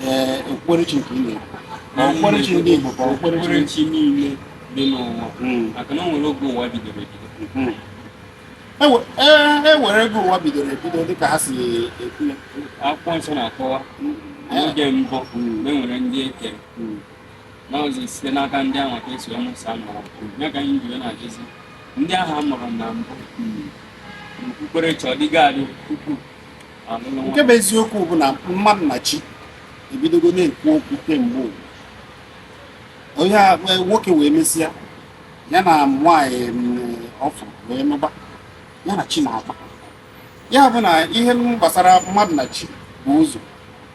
ee okpukperechi nke ị na-ekwu ma okpukperechi ndị Igbo ka okpukperechi okpukperechi niile dị n'ụwa Mm. maka na o nwere oge ụwa bidoro ebido Mm. Ewe- ee, e nwere oge ụwa bidoro ebido dịka ha si ekwu ya akwụkwọ nsọ na-akọwa n'oge mbụ mgbe e nwere ndị e kere Mm. na ọzọ site n'aka ndị ahụ ka e si mụsa mụrụ ya ka anyị jiri na-ajụzi ndị ahụ a mụrụ na mbụ okpukperechi ọ dịgo adị tupu nke bụ eziokwu bụ na mmadụ na chi ebidogo na-ekwu okwu kemgbe ụwa. onye a wee- nwoke wee mesịa ya na nwaanyị mm, ọfụ wee nụba ya na chi na-akpa ya bụ na ihe gbasara mmadụ na chi bu ụzọ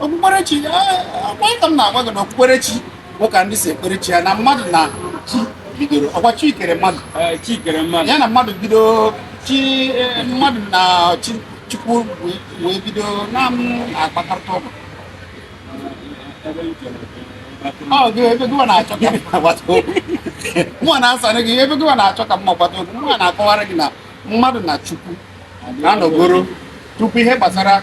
okpukperechi ọkwa ka m na-agwa gị na okpukperechi bụ ka ndị si ekpere chi ya na mmadụ na chi bidoro ọkwa chi kere mmadụ Ee, chi kere mmadụ ya na mmadụ bido chi eh, mmadụ na chi chukwu wee- wee bido na-akpakọrịta okwu ebe m chere ọ gị ebe gịwa na-achọ ka mụa gbata okwu mụa na-asara gị ebe gịwa na-achọ ka mụa gbata okwu mụa na-akọwara gị na mmadụ na chukwu na-anọgoro tupu ihe gbasara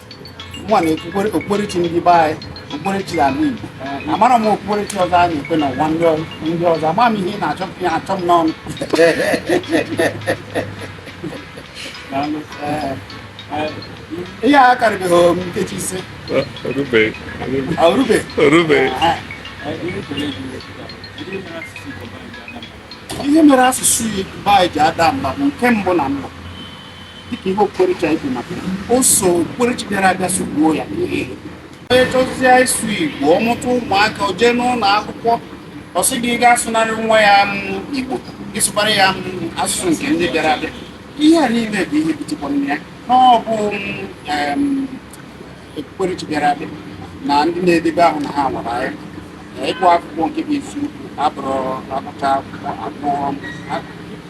mụnwa na okpukperechi ndị be anyị okpukperechi ala Igbo amarọ m okpukperechi ọzọ a na-ekpe n'ụwa ndị ọzọ ama m ihe ị na-achọ ihe achọ m n'ọnụ ihe a karịbeghị m nkeji ise ihe mere asụsụ Igbo anyị ji ada mba bụ nke mbụ na mbụ dịka ihe okpukperechi anyị kwuru maka ya o so okpukperechi bịara abịa so gbuo ya onye chọzie ịsụ igbo ọ mụta ụmụaka o jee n'ụlọ akwụkwọ ọ sị gị gị asụnara nwa ya m igbo ị sụkwara ya m asụsụ nke ndị bịara abịa ihe a niile bụ ihe butekwara ya na ọ bụ em, okpukperechi bịara abịa na ndị na-edebe ahụ na ha nwara anyị ịgụ akwụkwọ nke bụ isiokwu abụrụ agụcha akwụkwọ agụọ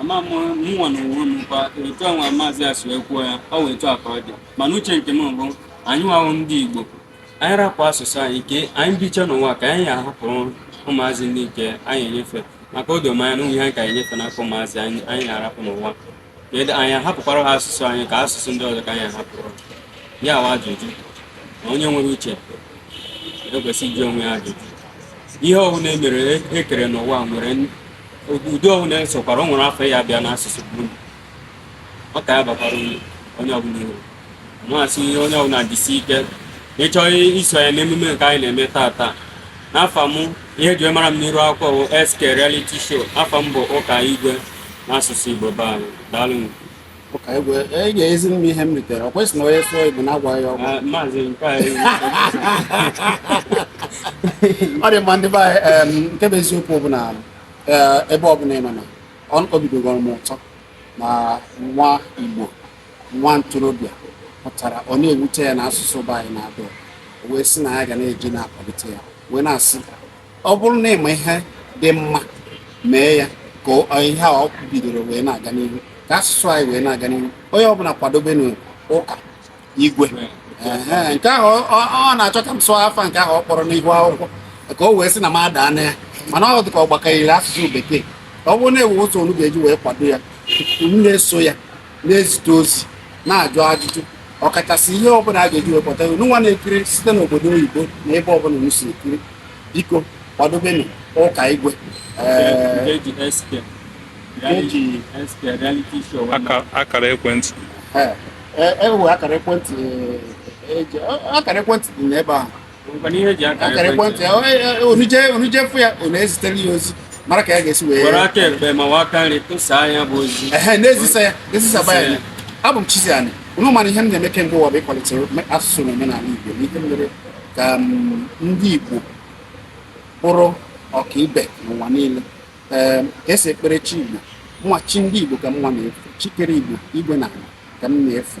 ama m mụnwa n'onwe m kwa etu a nwa maazị a si wee kwuo ya ọ wee etu a ka ọ dị mana uche nke m bụ anyịnwa bụ ndị igbo anyị rapụ asụsụ anyị ke anyị bicha n'ụwa ka anyị ahapụrụ ụmụazị ndị nke anyị enyefe maka o do m anya na ihe anyị ga-enyefe n'aka ụmụazị anyị anyị na-arapụ n'ụwa kedu anyị ahapụkwara ha asụsụ anyị ka asụsụ ndị ọzọ ka anyị ahapụrụ ya bụ ajụjụ na onye nwere uche ekwesị ịjụ onwe ya ajụjụ ihe ọbụla e mere e kere n'ụwa nwere ụdị ọbụla e sokwara o nwere afa ya bịa n'asụsụ be unu ọ ka ya bakwara unu onye ọbụla uru masị ihe onye ọbụla jisi ike na ị chọọ iso ya n'emume nke anyị na-eme tata na afa m ihe eji mara m n'iru akwụkwọ bụ SK Reality Show afa m bụ Ụka Igwe n'asụsụ Igbo be anyị daalụ ị ga-ezi m ihe m ritere ọ kwesịrị na onye sụọ igbo na-agwaghị ya ọgwa ọ dị mma ndị be anyị nke bụ eziokwu bụ na eh, ebe ọbụla ị nọ na obi tọgoro m ụtọ na nwa igbo nwa ntorobịa pụtara ọ na-ewute ya na asụsụ be anyị na-ada o wee sị na ya ga na-eji na-akwalite ya wee na-asị ọ bụrụ na ịma ihe dị mma mee ya ka ihe a ọ bidoro wee na-aga n'ihu ka asụsụ anyị wee na-aga n'ihu onye ọbụla kwadobenụ ụka igwe nke ahụ ọ na-achọ ka m sụọ afa nke ahụ ọ kpọrọ n'ihu akwụkwọ ka o wee sị na m adaa na ya mana ọ dị ka ọ gbakanyere asụsụ bekee ọ bụrụ na enwee ụzọ unu ga-eji wee kwado ya unu na-eso ya na-ezite ozi na-ajụ ajụjụ ọkachasị ihe ọbụla a ga-eji wee kpọta unu nwa na-ekiri site n'obodo oyibo na ebe ọbụla unu si ekiri biko kwadobenụ ụka igwe Ee, eji SK Eji SK reality show Aka- akara ekwentị ee, e- enwe akara ekwentị e- eji- akara ekwentị dị n'ebe ahụ akara ekwentị ya unu jee unu jee fụ ya unu ezitere ya ozi mara ka ya ga-esi wee were aka ekpe ma ọ wụ aka nri tụsaa nya bụ ozi ehe na-ezisa ya ezisaba ya abụ m Chizzy Ani unu ma na ihe m na-eme kemgbe ụwa bụ ịkwalite asụsụ na omenala igbo na ihe mere ka ndị igbo bụrụ ọkaibe n'ụwa niile ee ka esi ekpere chi igbo nwa chi ndị igbo ka m nwa na-efe chi kere igbo igwe na ala ka m na-efe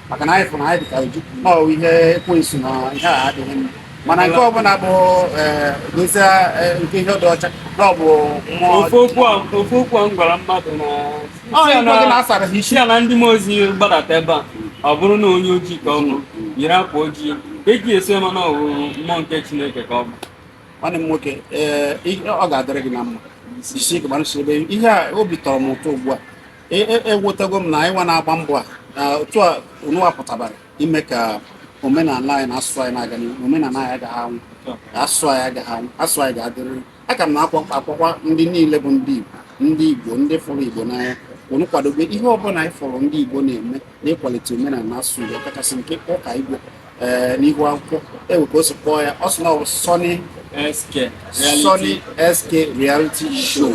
maka na anyị fụrụ anyị dịka oji na ọ ihe ekwensu na ihe a adịghị mma mana nke ọbụla bụ eh, gosi eh, nke ihe dị ọcha na ọ bụ ofu okwu a m gwara mmadụ na asịrị sị ya na ndị mmụọ ozi gbadata ebe a ọ bụrụ na onye ojii ka ọ bụ yiri akwa ojii eji esi ama na ọ wụ mmụọ nke chineke ka ọ bụ nwanne m nwoke eh, ọ ga-adịrị gị na mma jisie ike gbara ebe ihe a obi tọrọ m ụtọ ugbu a ewetago e, e m na anyị nwa na-agba mbọ a na otu a unu apụtabara ime ka omenala anyị na asụsụ anyị na-aga n'ihu omenala anyị agaghị anwụ asụsụ anyị agaghị anwụ asụsụ anyị ga-adịrịrị aka m na-akpọkwa ndị niile bụ ndị Igbo ndị Igbo ndị fụrụ Igbo n'anya unu kwadobe ihe ọbụla anyị fụrụ ndị Igbo na-eme n'ịkwalite omenala na asụsụ Igbo ọkachasị nke ụka Igwe eh, n'ihu akwụkwọ enwe ka o si kpọọ ya ọ sị na ọ bụ Sunny SK Reality Show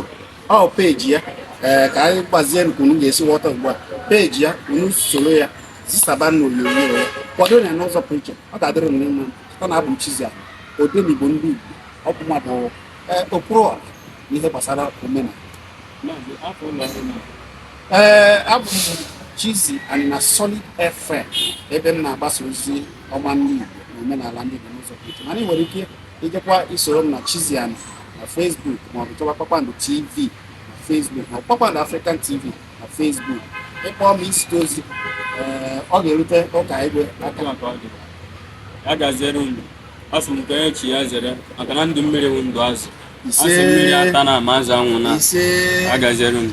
ọ peji ya ee ka anyị gbazie nke unu ga-esi ghọta ugbu a peji ya unu soro ya zisaba na onyonyo ya kwado ya n'ụzọ pụrụ iche ọ ga-adịrị unu mma ọ na abụ m Chizzy Ani odenigbo ndị Igbo oke mmadụ ee okwuru ọha n'ihe gbasara omenala Maazị, afọ ụlọ ọrụ na ee abụ m Chizzy Ani na Solid FM ebe m na-agbasa ozi ọma ndị Igbo na omenala ndị Igbo n'ụzọ pụrụ iche mana ị nwere ike ijekwa isoro m na Chizzy Ani na Facebook maọbụ chọwa Kpakpando TV na Facebook ma Kpakpando African TV na Facebook ị kpọọ ma i zite ozi ee, ọ ga-erute Ụkaigwe aka Otu a ka ọ dị. ya gaziere unu asị m ka onye chi ya zere maka na ndụ mmiri bụ ndụ azụ a sị Ise. mmiri atana ma azụ anwụna ise ya gaziere unu